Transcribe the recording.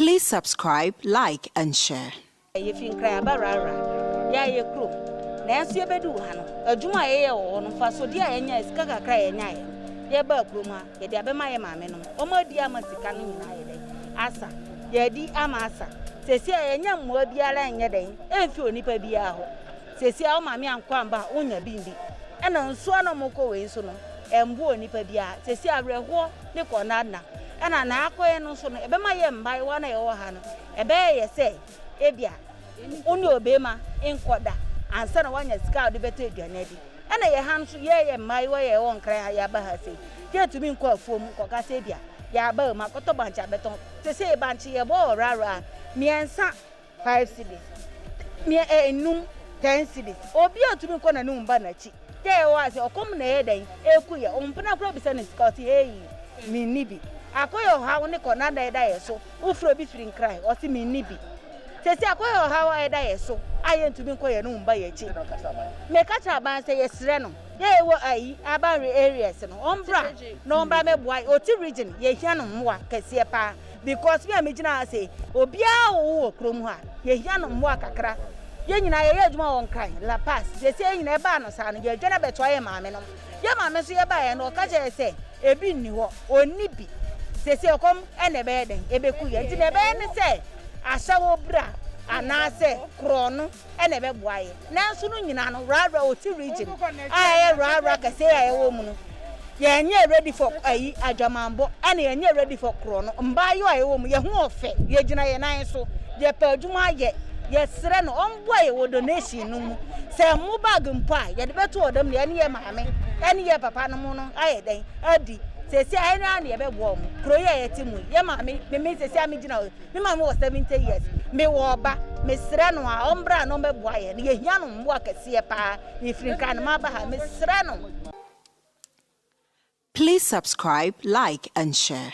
Please subscribe, like and share. Yɛfi Nkran aba Rara, yɛayɛ kurom. Nanso yɛbɛduu ha no, adwuma a yɛyɛɛ wɔ hɔ no, mfasoɔdeɛ a yɛnyaeɛ, sika kakra a yɛnyaeɛ no, yɛbaa kurom ha, yɛde abɛma yɛn maamenom. Wɔadi ama sika no nyinaa ayɛ dɛn? Asa. Yɛadi ama asa. Seesei a yɛnnya mmoa biara nyɛ dɛn? Ɛmfi onipa biara hɔ. Seesei a wo maame ankɔ amba a, wonnya bi ndi. Nna nsu a nna wɔkɔ wei so no, ɛmboa onipa biara. Seesei awerɛhoɔ ne kɔnnaadna na na akɔ yɛn nso no, ɛbɛma yɛn mmaayewa no a yɛwɔ ha no, ɛbɛyɛ yɛ sɛ ebia wo ne ɔbarima nkɔda ansa na woanya sika a wode bɛtɔ aduane adi. Ɛna yɛn ha nso, yɛn a yɛyɛ mmaayewa a yɛwɔ nkran ha a yɛaba ha sei, yɛntumi nkɔ afuom nkɔka sɛ ebia yɛaba ha mu akɔtɔ bankye abɛtɔn. Seesei bankye yɛbɔ ɔwɔwrɛawɔrɛ a, mmiɛnsa. Five cedis, mia ɛ nnum, ten cedis, obi a otumi kɔ n'anim ba n'akyi, tɛ ɛ ɔa se ɔkɔm na ɛyɛ dɛn ɛku yɛ, ompena koraa obisa no sika ɔse hei me nni bi, akɔyɛ ɔhaw ne kɔ na na ɛda yɛ so, wofrɛ obi firi nkran ɔse me nni bi, sese akɔyɛ ɔhaw a ɛda yɛ so a yɛ ntumi nkɔ yɛ anom mba yɛ akyi, me ka kyerɛ aban sɛ yɛ srɛ no dɛ yɛ wɔ ayi aban re areas no ɔmbra na ɔmbra mɛboa yɛ, ɔte region yɛ hia no mmoa kɛseɛ paa. Because me a megyina ha sei, obiara a ɔwɔ wɔ kurom ha, yɛhia no mmoa kakra. Yɛn nyinaa yɛyɛ adwuma wɔ Nkran, La Paz. Seesei yɛn nyinaa ɛbaa no saa no, yɛredwane abɛtoa yɛn maamenom. Yɛn maame nso yɛbaeɛ no, ɔka kyerɛɛ yɛn sɛ ebi nni hɔ, ɔnni bi. Seesei ɔkɔm na ɛbɛyɛ dɛn? Ɛbɛku yɛn. Nti deɛ ɛbɛyɛ ne sɛ, ahyɛ wo bra anaasɛ korɔno. na ɛbɛboa yɛ. Nanso no nyinaa no Rara Oti region a ɛyɛ Rara kɛsɛɛ a yɛwɔ mu no yɛnyɛ ready for ayi adwamanbɔ ɛna yɛnyɛ ready for korɔ no mbaayɔ a yɛwɔ mu yɛ ho ɔfɛ yɛgyina yɛ nan so yɛpɛ adwuma ayɛ yɛsrɛ no ɔmboa yɛ wɔ donation no mu sɛ mo bag mpo a yɛde bɛto ɔdam na yɛne yɛ maame ɛne yɛ papa no mo no ayɛ dɛn adi sɛsi a ɛne a na yɛbɛboa ɔmo kuro yi a yɛte mu yɛ maame meme sɛsi a megyina Me maame wɔ seventy years, mewɔ ɔba, mesrɛ no a ɔmbra na ɔmbɛboa yɛn, yɛhia no mmoa kɛseɛ paa, mefiri Nkran na maba ha, mesrɛ no. Please subscribe, like and share.